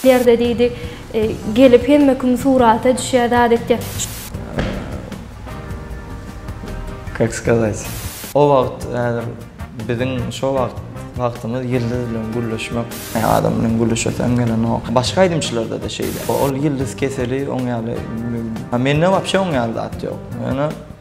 Ýerde diýdi. Gelip hemme kim surata düşýär zat etýär. Kak skazat. O wagt häzir biziň şo wagt wagtymyz ýyldyz bilen gürleşmek. Adam bilen gürleşesim gelenok. Başga aýdymçylarda-da şeýle. Ol ýyldyz keseli oň ýaly. Mende wapşe oň ýaly zat ýok. Ýöne.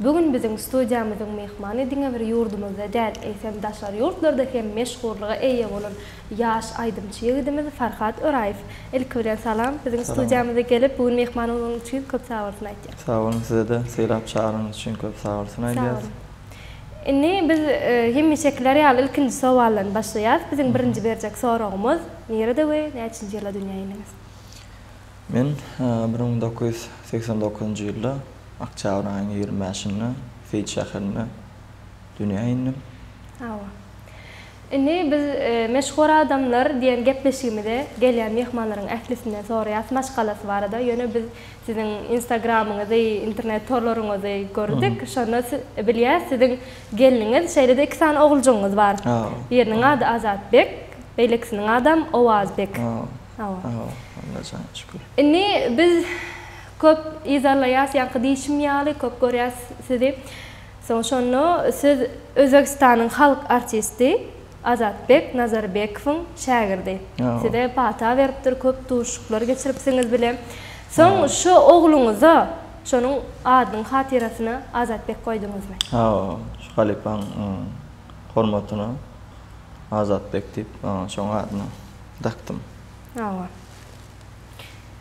Bu gün biziň studiýamyzyň myhmany diňe bir ýurdumyzda däl, eýsem daşary ýurtlarda hem meşhurlyga eýe bolan ýaş aýdymçy ýigidimiz Farhat Öraýew. Ilki bilen salam, biziň studiýamyza gelip bu gün myhman bolanyň üçin köp sagbolsun aýtýas. Sag boluň size-de sylap çagyrynyňyz üçin köp sagbolsun aýdýas. Sag boluň. Indi biz hemişekiler ýaly ilkinji sowaldan başlaýas. Biziň birinji berjek soragymyz, nirede we näçinji ýylda dünýä indiňiz? Men bir müň dokuz ýüz segsen dokuzynjy ýylda oktýabryň aýynyň ýigrimi bäşinde Seýit şäherinde dünýä indim. Hawa. Indi biz Meşhur adamlar diýen gepleşigimize gelýän myhmanlaryň ählisinden soraýas maşgalasy barada. Ýöne biz siziň instagramyňyzy, internet torlaryňyzy gördük. Şonda bilýäs siziň gelniňiz, şeýle-de iki sany oguljygyňyz bar. Biriniň ady Azatbek, beýlekisiniň adam Owazbek. Sag bol. Sag bol. Alla jana şükür. Indi biz köp yzarlaýas ýaňky diýşim ýaly köp görýäs sizi. Soň şonda siz Özbegistanyň halk artisti Azatbek Nazarbekowyň şägirdi. Size pata beripdir köp duşuşyklar geçiripsiňiz bile. Soň şo ogluňyza şonuň adynyň hatyrasyna Azatbek goýduňyzmy? Hawa şu halypaň hormatyna Azatbek diýip şoň adyna. dakdym. Hawa.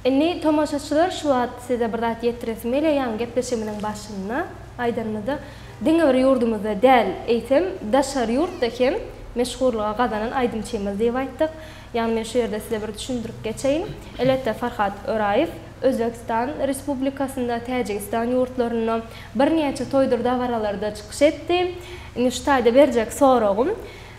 Indi tomaşaçylar şu wagt size bir zat ýetdiresim gelýär, ýaňy gepleşigimiziň başynda aýdanymyzda diňe bir ýurdumyzda däl, eýsem daşary ýurtda hem meşhurlyga gazanan aýdymçymyz diýip aýtdyk. Ýagny men şu ýerde size bir düşündirip geçeýin. Elbetde Farhat Öraýew Özbegistan Respublikasynda, Täjigistan ýurtlarynda birnäçe toýdur dabaralarda çykyş etdi. Indi şu taýda berjek soragym,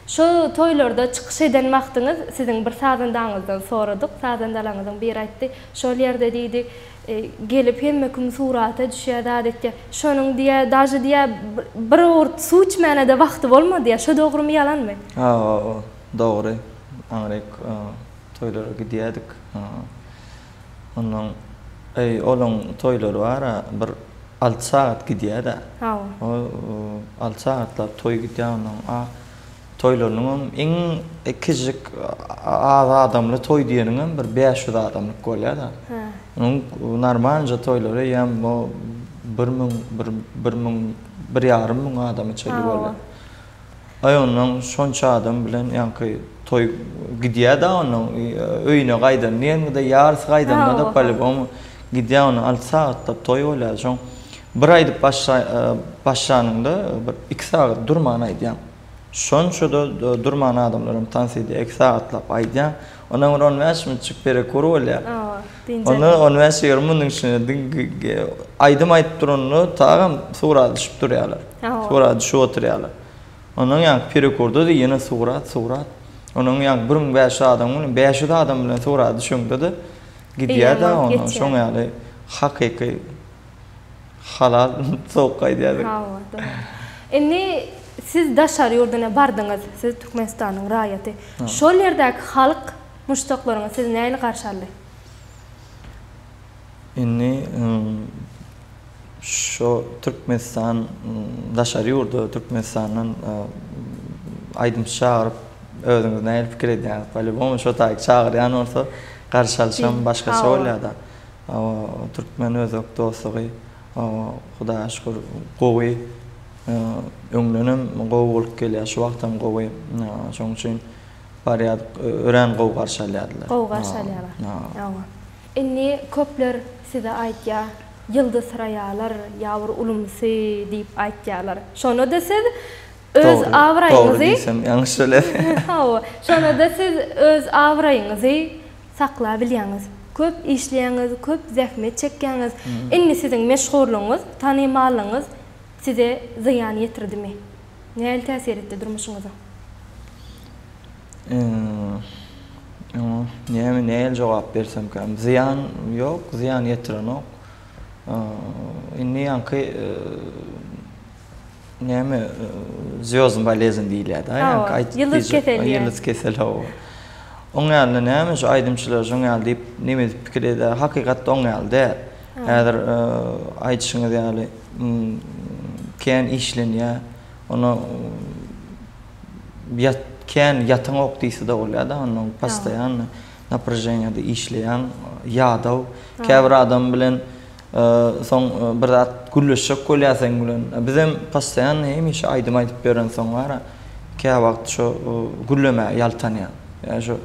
Şu toýlarda çykyş eden wagtyňyz siziň bir sazandaňyzdan soradyk. Sazandalaryňyzyň biri aýtdy, Şol ýerde diýdi, gelip hemme kim surata düşýär, zat etýär. Şonuň diýä, daže diýä bir owurt suw içmäne-de wagty bolmady diýä. Şo dogrymy, ýalanmy? Hawa, dogry. Aňryk toýlara gidýärdik. Onnoň eý olaň toýlary bara bir alty sagat gidýädä. Haw. O alty sagatlap toý gidýä onnoň a toýlarynyňam iň kiçijik az adamly toý diýeniňem bir bäş ýüz adamlyk bolýada. Hä. Onuň normalnja toýlary eýýäm o bir müň bir bir müň bir ýarym müň adama çenli bolýa. Hawa. Aý onnoň şonça adam bilen ýaňky toý gidýä-dä onnoň öýüne gaýdan diýengi-de ýarysy gaýdanda-da polibom gidýä onnoň alty sagatlap toý bolýa şoň bir aýdyp başlanyňda bir iki sagat durman aýdýaň şonça-da durman adamlaram tans edýä iki sagatlap aýdýaň Onam bir on bäş minutjyk perekür bolýar. Hawa, dynja. Onda on bäş-ýigrimi minutiň içinde diňe aýdym aýdyp duranda tagam sugra düşüp durýarlar. Hawa. Sugra düşüp oturýarlar. Ondan ýaňky perekürde-de ýene sugra, sugra. Onam ýaňky bir müň bäş ýüz adam bilen, bäş ýüz adam bilen sugra düşeňde-de gidýär-de, onam şoň ýaly hakyky. Halal sowuk gaýdýardyk. Hawa, dogry. Indi siz daşary ýurduna bardyňyz, siz Türkmenistanyň raýaty. Şol ýerdäki halk, muşdaklaryňyz sizi nähili garşy aldy? Indi şo Türkmenistan daşary ýurda Türkmenistandan aýdymçy çagyryp, özüňiz nähili pikir edýäňiz? Polýubomy şo taýy çagyrýan bolsa garşy alyşam başgaça bolýar-da. Türkmen özbek dostlugy Hudaýa şükür gowy. Öňdenem gowy bolup gelýär, şu wagtam gowy. Şonuň üçin barýardyk, örän gowy garşy alýardylar. Gowy garşy alýarlar. Indi köpler size aýtýar, Ýyldyzsyraýarlar ýa bir ulumsy diýip aýtýarlar. Şonda-da siz öz abraýyňyzy. Dogry diýsem ýalňyş biler. Hawa, şonda-da siz öz abraýyňyzy saklabilýäňiz. Köp işleýäňiz, köp zähmet çekýäňiz. Indi siziň meşhurlygyňyz, tanymallygyňyz size zyýan ýetirdimi? Nähili täsir etdi durmuşyňyza? Oňa näme, nähili jogap bersemkäm? Zyýan ýok, zyýan ýetirenok. Indi ýaňky Näme zýozdny bolezn diýilýärdi. Hawa, ýyldyz keseli. Ýyldyz keseli hawa. Oň ýalyna näme şu aýdymçylar şoň ýaly diýip neme edip pikir edýär. Hakykatda oň ýaly däl. Häzir aýdyşyňyz ýaly kän işlenýär. Ony ýat kän ýataňok diýse-de bolýar-da, onda postoýanny naprajeniýada işleýän ýadaw. Käbir adam bilen Soň bir zat gürleşjek bolýar seň bilen. Bizem postoýanno hemişe aýdym aýdyp ýörensoň wara, käwagt şo gürlemäge ýaltanýan. Ýa şo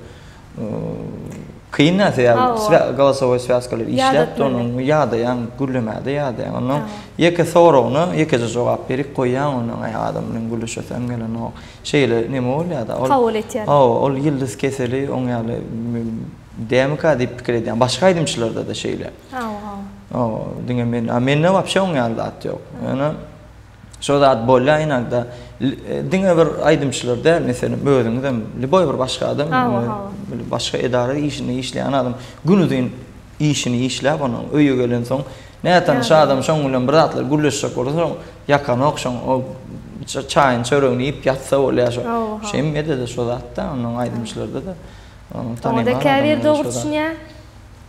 kyn-a sebäbi golosowoý swýazkalary işläpdi onuň, ýadaýaň, gürlemäge-de ýadaýaň. Onnoň ýeke soragyna ýekeje jogap berip goýýaň, onnoň aý adam bilen gürleşesim gelenok. Şeýle neme bolýar-da. Kabul etýär. Hawa, ol ýyldyz keseli oň ýaly dämika diýip pikir edýän. Başga aýdymçylarda-da şeýle. Hawa, hawa. Hawa, diňe men. A mende wapşe oň ýaly zat ýok. Ýöne şo zat bolýar ynagda. Diňe bir aýdymçylar däl, meselem, özüňiz hem, liboý bir başga adam, başga edara işinde işleýän adam günuzyn işini işläp, onuň öýe gelensoň, nätanyş adam şoň bilen bir zatlar gürleşjek bolsa, şoň ýakanok, şoň çaýyny, çöregini iýip ýatsa bolýar. Şeýmede-de şo zatda, onuň aýdymçylarda-da. Onda käbir dogry düşünýär.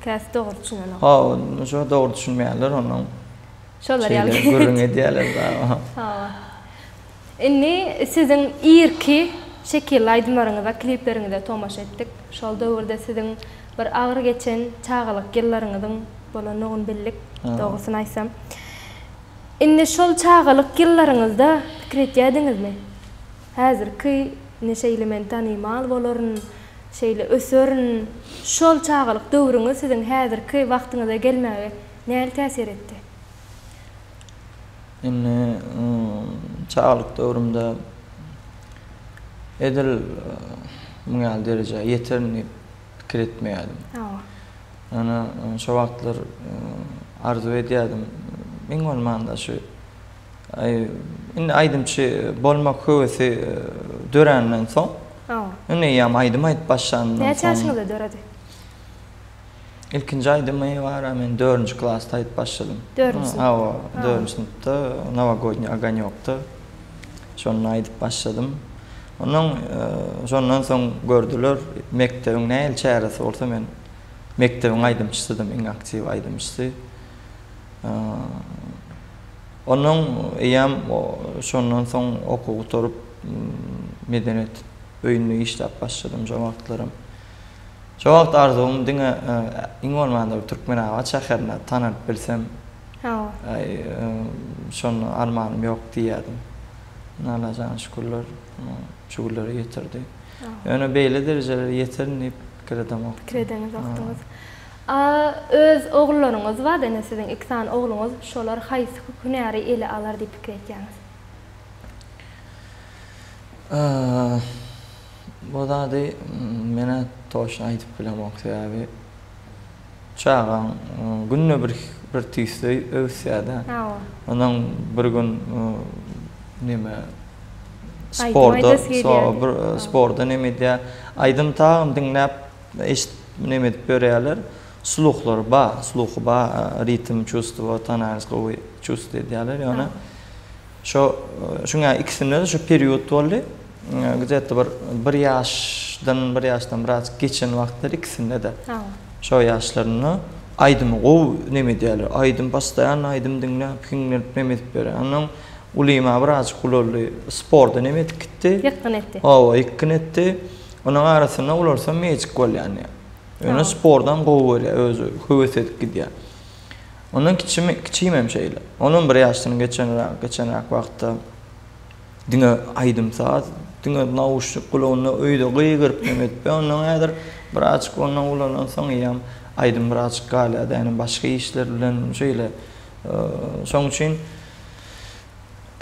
Käsi dogry düşünenok. Hawa, şo dogry düşünmeýärler onuň. Şolar ýaly. Şeýle gürrüň edýärler dagy. Hawa. Indi siziň irki şekilli aýdymlaryňyza, klipleriňize tomaşa etdik. Şol döwürde siziň bir agyr geçen çagalyk ýyllaryňyzyň bolandygyny bildik, dogrusyny aýtsam. Indi şol çagalyk ýyllaryňyzda pikir etýärdiňizmi? Häzirki indi şeýle men tanymal bolaryn, Şeýle öserin. Şol çagalyk döwrüňiz siziň häzirki wagtyňyza gelmäge nähili täsir etdi? Indi çagalyk döwrümde edil muň ýaly derejä ýeterin diýip pikir etmeýärdim. Ýöne şo wagtlar arzuw edýärdim, iň bolmanda şu Indi aýdymçy bolmak höwesi dörenden soň. Indi eýýäm aýdym aýdyp başlandan soň. Näçe ýaşyňyzda döredi? Ilkinji aýdymy bara men 4-nji klasda aýdyp başladym. 4-nji synpda. Hawa, 4-nji synpda Nowogodniý ogonýokda. Şonda aýdyp başladym. Onuň şondan soň gördüler, mekdebiň nähili çäresi bolsa men mekdebiň aýdymçysydym, iň aktiw aýdymçysy. Ondan eýýäm şondan soň okuw gutaryp, medeniýet öýünde işläp başladym şo wagtlaram. Şo wagt arzuwym diňe iň bolmanda bir Türkmenabat şäherinde tanalyp bilsem. Şonda armanym ýok diýýärdim. Indi Allajana şükürler şu günlere ýetirdi. Ýöne beýle derejelere ýeterin diýip pikir edemokdym. Pikir edeňizokdyňyz. A öz ogullaryňyz bar da indi siziň iki sany ogluňyz şolar haýsy hünäri ele alar diýip pikir etýäňiz? A bu zady menä toşna aýdyp bilemok sebäbi çagaň günde bir bir tüýsli öwüsýädä ondan bir gün neme sporda sporda neme edýä aýdym tagyn diňläp Eşit, näme edip ýörýärler? Sluhlary bar, sluhy bar, ritm çustuwa, tanans gowy çust edýärler. Ýöne şo şuňa ikisinde-de şo period boldy. Gzette bir bir ýaşdan, bir ýaşdan biraz geçen wagtlary ikisinde-de. Şo ýaşlarynda aýdymy gowy näme edýärler. Aýdym postoýanno aýdym diňläp, hiňlenip näme edip ýörýär. Onnoň ulyma birazjyk ulaldy. Sporda näme edip gitdi? Ýykgyn etdi. Hawa, ýykgyn etdi. Onuň arasynda ulalsam magic bolýan ýa. Ýöne sportam gowy görýär, özi höwes edip gidýär. Ondan kiçimi, kiçim hem şeýle. Onam bir ýaşdan geçenräk, geçenräk wagtda diňe aýdym-saz, diňe nauşnik gulagynda öýde gygyryp hem edip, ondan häzir birazjyk ondan ulalansoň ýam aýdym birazjyk galýar-da, ýagny başga işler bilen şeýle. Şoň üçin.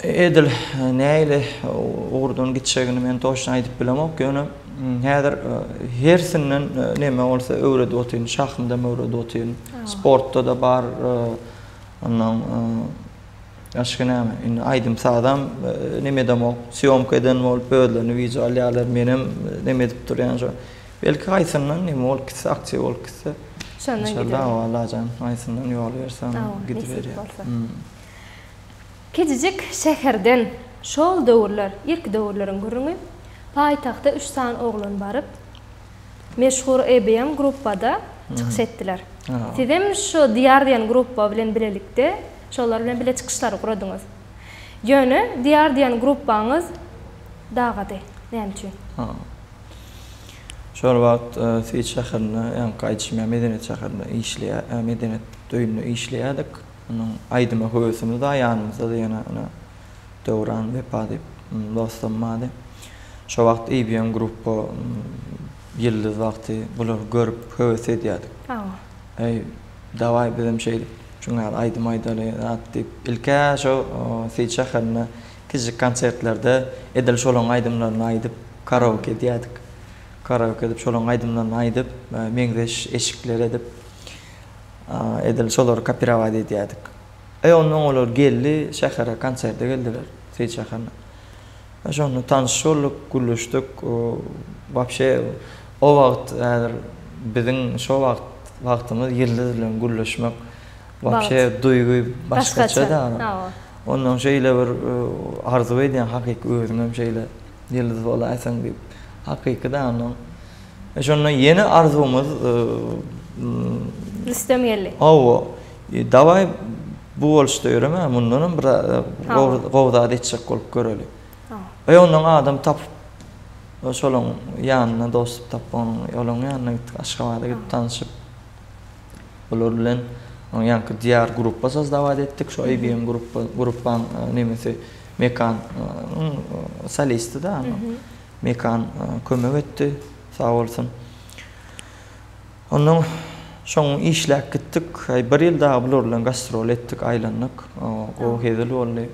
Edil nähili ugurdan gitjegini men toçna aýdyp bilemok, ýöne häzir hersinden neme bolsa öwredip otyryn, şahmdam öwredip otyryn. Sportda-da bar, ondan başga näme, indi aýdym-sazam neme edemok, sýomka eden bolup özlerini wideo alýarlar, menem neme edip durýan şo. Belki haýsyndan neme bolup gitse, aktiw bolup gitse. Şondan giderin. Inşallah, Allajan haýsyndan ýol berse, gidiberýär. Kiçijik şäherden şol döwürler, irki döwürleriň gürrüňi, paýtagta üç sany oglan baryp, meşhur EBM gruppada çykyş etdiler. Sizem şu Diýar diýen grupba bilen bilelikde şolar bilen bile çykyşlary guradyňyz. Ýöne Diýar diýen grupbaňyz dagady. Näme üçin? Şol wagt Swit şäherinde, ýaňky aýdyşym ýaly, medeniýet şäherinde işleýär, medeniýet öýünde işleýärdik. Onuň aýdyma höwesimiz-a ýanymyzda-da ýene ine Döwran, Wepa diýip dostum bardy. Şo wagt IBM Gruppo, Ýyldyz wagty bulary görüp höwes edýärdik. Eý, dawaý bizem şeýdip şuň ýaly aýdym aýdaly zat diýip, ilk-ä şo Seýit şäherinde kiçijik konsertlerde edil şolaryň aýdymlaryny aýdyp karaoke edýärdik. Karaoke edip şolaryň aýdymlaryny aýdyp, meňzeş eşikler edip. Edil şolary kopirować edýärdik. E, onda oň olar geldi, şähere konserde geldiler, Seýit şäherine. E, şonda tanyş bolduk, gürleşdik. Wapşe, o wagt, häzir biziň şo wagt wagtymyz Ýyldyz bilen gürleşmek, wapşe duýgy başgaça-da. Ondan şeýle bir arzuw edýän, hakyky özüňem şeýle Ýyldyz bolaýsaň diýip. Hakyky-da onnoň. E şonda ýene arzuwymyz Rüstem geldi. Hawa. Dawaý bu boluşda ýöreme, mundanam bir gowy zat etjek bolup göreli. E ondan adam tapyp şolaň ýanyna dostluk tapyp olaň ýanyna gitdik, Aşgabada gidip tanşyp. Olar bilen onuň ýanky Diýar gruppa saz dawad etdik, şu ABM gruppa gruppaň nemesi Mekan solisti-da. Mekan kömek etdi, sag bolsun. Ondan soň işläp gitdik. Aý, bir ýyl dagy bular bilen gastrol etdik, aýlandyk. Gowy hezil boldy.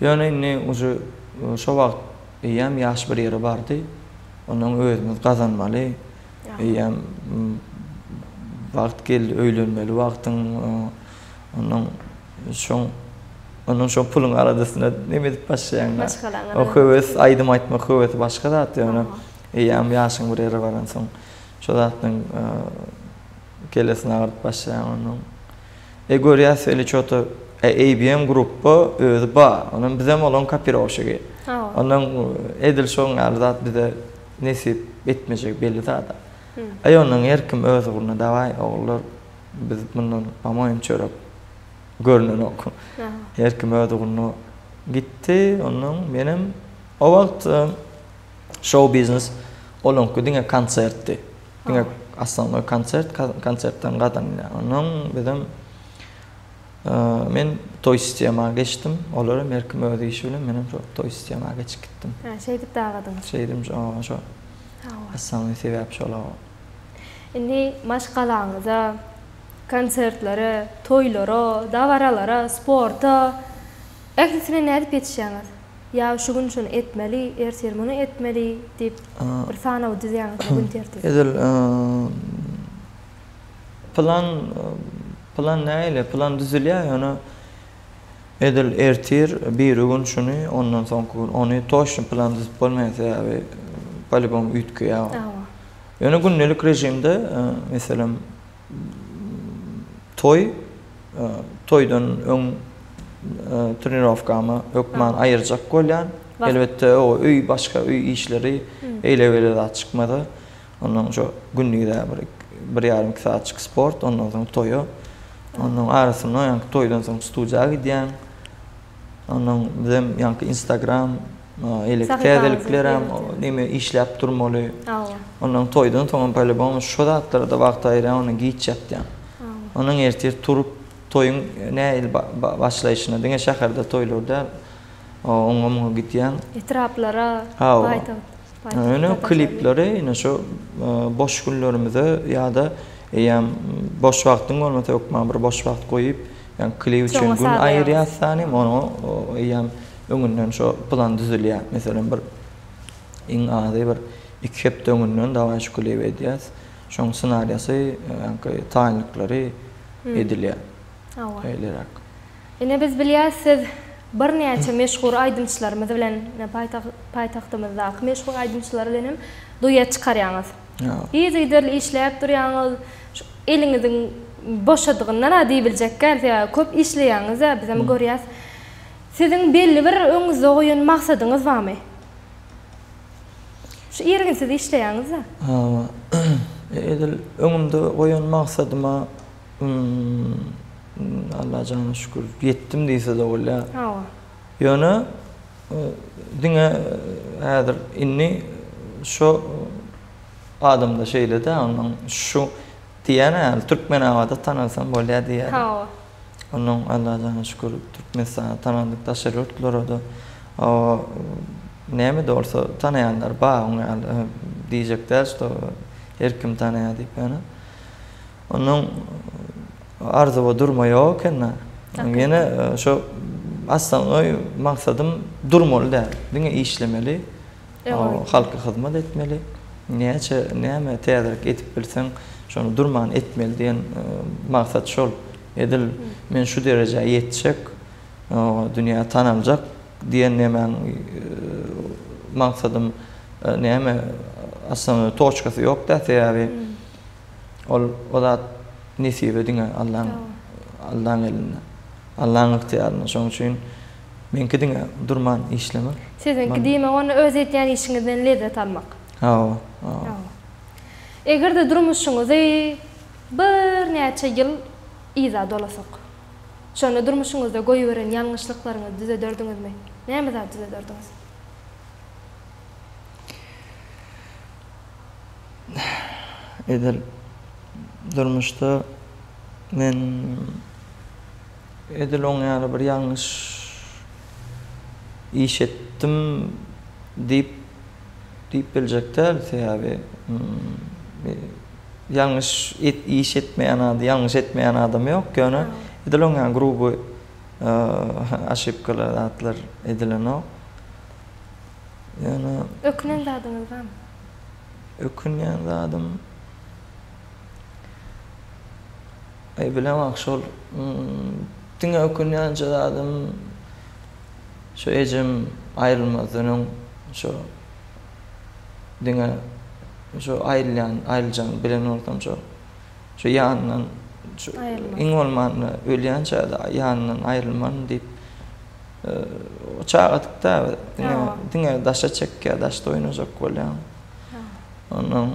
Ýöne indi uje şo wagt eýýäm ýaş bir ýere bardy. Ondan özümiz gazanmaly. Eýýäm wagt geldi, öýlenmeli wagtyň Onuň şoň onuň şo puluň aladasyna neme edip başlaýaň? Maşgalaňa. O höwes, aýdym aýtmak höwesi başga zat ýöne eýýäm ýaşyň bir ýere baransoň şo zatdan kellesini agyrdyp başlaýaň onuň. E görýäs weli çota ABM grupba özi bar. Onuň bizem olaň kapiroşigi. Onuň edil şoň ýaly zat bize nesip etmejek belli zada. Aý ondan her kim öz ugruna daway ogullar biz mundan amoýin çörek görnenok her kim öz ugruna gitdi ondan menem o wagt şou biznes olaňky diňe konsertdi diňe assannoý konsert konsertden gadan ondan bizem Men toý sistema geçdim. Olar hem her kim öz işi bilen, men hem şo toý sistema geçip gitdim. Hä, şeýdip dagadyňyz. Şeýdim, şo. Assaňly sebäp şol-a. Indi maşgalaňyza, konsertlere, toýlara, dabaralara, sporta, ählisine nädip ýetişýäňiz? Ýa şu gün şuny etmeli, ertir muny etmeli diýip, bir sanawy düzýäňizmi, gün tertibi? Edil, Plan plan nähili? Plan düzülýär, ýöne edil ertir biri gün şuny, ondan soňky gün ony toçny plan düzüp bolmaýar, sebäbi polibom üýtgeýär. Hawa. Ýöne gündelik režimde, e, meselem, toý, e, toýdan öň e, trenirowkamy hökman aýyrjak bolýan. Elbetde, o öý başga öý işleri, eýle-beýle zat çykmasa, Ondan şu gündize bir, bir ýarym iki saatjyk sport, ondan soň toýa. Ondan arasynda ýaňky toýdan soň studiýa gidýäň. Ondan bizem ýaňky Instagram, elek täzeliklerem, neme işläp durmaly. Ondan toýdan soňam polibom şu zatlara-da wagt aýyrýan, ondan giç ýatýan. Ondan ertir turup, toýuň nähili başlaýşyna, diňe şäherde toýlar däl, oňa-muňa gidýän. Etraplara, paýtagt. Ýöne klipleri ine şu boş günlerimize ýa-da eýýäm boş wagtyň bolmasa hökman bir boş wagt goýup, ýa klip üçin gün aýyrýas sany, oňa eýýäm öňünden şo plan düzülýär. Meselem bir iň azy bir iki hepde öňünden dawaý şu klibi edýäs. Şoň ssenariýasy, ýa-da taýynlyklary edilýär. Hawa. Şeýleräk. Ine biz bilýäs siz birnäçe meşhur aýdymçylarymyz bilen paýtagtymyzdaky meşhur aýdymçylar bilen hem duet çykarýaňyz. Yzygiderli işläp durýaňyz. Eliňiziň boşadygyndan-a diýibiljekkäs ýaly köp işleýäňiz-ä biz hem görýäs. Siziň belli bir öňüňizde goýan maksadyňyz barmy? Şu irginsiz işleýäňiz-de. Edil öňümde goýan maksadyma Hum Alla jana şükür ýetdim diýsede bolýa. Hawa. Ýöne diňe häzir indi şo adamda şeýlede onuň şu diýýän häli Türkmenabada tanalsam bolýa diýýär. Hawa. Onuň Alla jana şükür Türkmenistana tanaldyk daşary ýurtlarada näme de bolsa tanaýanlar bar oň ýaly diýjek däl şo her kim tanaýar diýip ýöne. Onuň arzuwy durma ýok ekeni-de. Ýene şo aslangoý maksadym durmaly däl. Diňe işlemeli. Halka hyzmat etmeli. Näçe näme täzelik edip bilseň, şony durman etmeli diýen maksat şol. Edil men şu derejä ýetjek, dünýä tanaljak diýen nemäň maksadym näme aslangoý toçkasy ýok-da. Sebäbi Ol o zat nesibe diňe Allaň Allaň elinde. Allaň ygtyýarynda. Şoň üçin meňki diňe durman işlemek. Siziňki diýmek onda öz edýän işiňizden lezzet almak. Hawa, hawa. Eger-de durmuşyňyzy birnäçe ýyl yza dolasak. Şonda durmuşyňyzda goýberen ýalňyşlyklaryňyzy düzederdiňizmi? Näme zat düzederdiňiz? Edil durmuşda men edil oň ýaly bir ýalňyş iş etdim diýip diýip biljek däl. Sebäbi ýalňyş iş etmeýän adam, ýalňyş etmeýän adam ýok. Ýöne edil oň ýaly gruby oşipkalar zatlar edilenok. Ýöne. Ökünen zadyňyz barmy? Ökünýän zadym. Aý bilemok şol diňe ökünýänje zadym şu ejem aýrylmazdan öň şu diňe şu aýrylýan aýryljany bilen bolsam şu şu ýanyndan şu iň bolmanda ölýänçä ýanyndan aýrylmaryn diýip Çagadyk da biz. Diňe, diňe daşa çekýär, daşda oýnajak bolýar. Ondan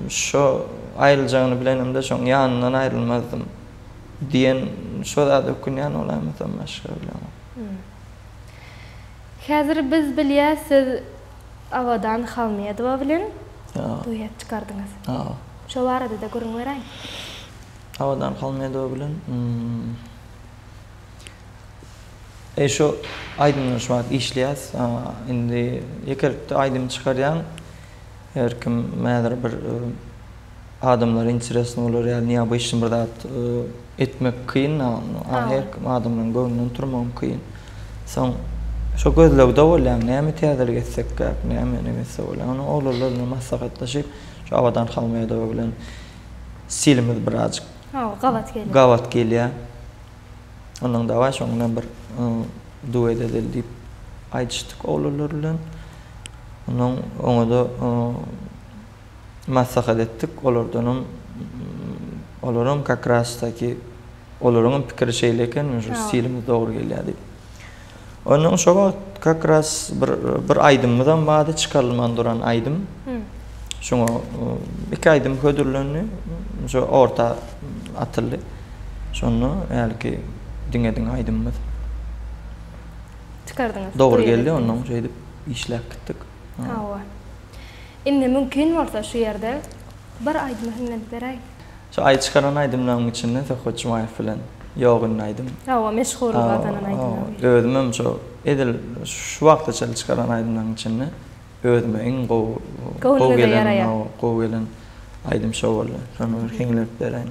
şo aýryljagyny bilenim-de, şoň ýanyndan aýrylmazdym diýen şo zada ökünýän bolaýmasam başga bilemok. Häzir biz bilýäs, siz Abadan Halmedowa bilen duet çykardyňyz. Şo barada-da gürrüň beräýiň. Abadan Halmedowa bilen E şu aýdymdan şu wagt işleýäs. Indi ýekelikde aýdym çykarýan. Her kim häzir bir adamlara interesno bolar ýaly neobyçnyý bir zat etmek kyn. Her kim adamlaryň göwnünden turmagam kyn. Soň şo gözlegde bolýan. Näme täzelik etsekkäk, näme näme etse bolýar. Onda oglanlar bilen maslahatlaşyp, şu Abadan Halmädowa bilen stilimiz birazjyk Ha o gabat gelýär. Gabat gelýär. Ondan dawaý şoň bilen bir duet edeli diýip aýdyşdyk oglanlar bilen. Ondan oňa-da maslahat etdik. Olardanam olaram kakras-taky olaryňam pikiri şeýle eken, şu stilimiz dogry gelýär diýip. Ondan şo wagt kak ras bir bir aýdymymyzam bardy, çykarylman duran aýdym. Şoňa iki aýdym hödürlendi, şo orta atyldy. Şonda hälki diňe-diňe aýdymymyz. Çykardyňyz. Dogry geldi, ondan şeýdip işläp gitdik. Hawa. Indi mümkin bolsa şu ýerde bir aýdymy hiňlenip beräýiň. Şu aý çykaran aýdymlaryň içinden Söhbet Jumaýew bilen Ýok indi aýdym. Hawa, meşhurlyk gazanan aýdymlaryň biri. Özüm hem şu edil şu wagta çenli çykaran aýdymlaryň içinde özüme iň gowy gowy gelen hawa gowy gelen aýdym şo boldy. Şony bir heňlep beräýin.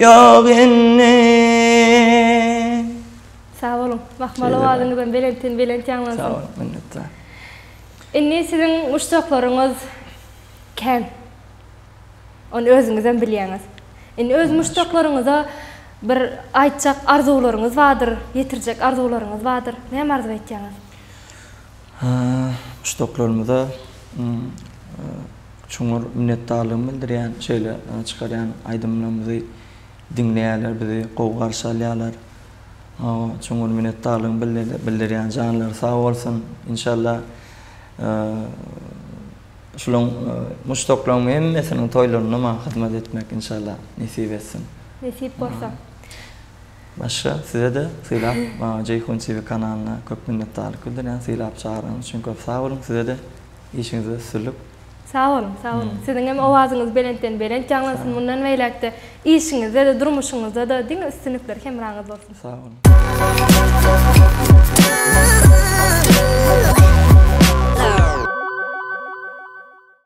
Ýok indi. Sag boluň. Mahmal owazyňyzam belentden belent ýaňlansyn. Sag boluň, minnetdar. Indi siziň muşdaklaryňyz kän. Ony özüňizem bilýäňiz. Indi öz muşdaklaryňyza bir aýtjak arzuwlaryňyz bardyr, ýetirjek arzuwlaryňyz bardyr. Näme arzuw etýäňiz? Uçdaklarymyza çuňňur minnetdarlygymy bildirýän şeýle çykarýan aýdymlarymyzy diňleýärler bizi gowy garşy alýarlar çuňňur minnetdarlygymy bildirýän janlary sag bolsun inşallah şulaň muşdaklaryň hemmesiniň toýlarynda maňa hyzmat etmek inşallah nesip etsin. Nesip bolsa. Başga sizede sylap maňa Jeýhun TV kanalyna köp minnetdarlyk bildirýän sylap çagyryňyz üçin köp sag boluň sizede işiňizde üstünlik. Sag boluň sag boluň siziňem owazyňyz belentden belent ýaňlansyn mundan beýläkde işiňizdede durmuşyňyzdada diňe üstünlikler hemraňyz bolsun. Sag boluň.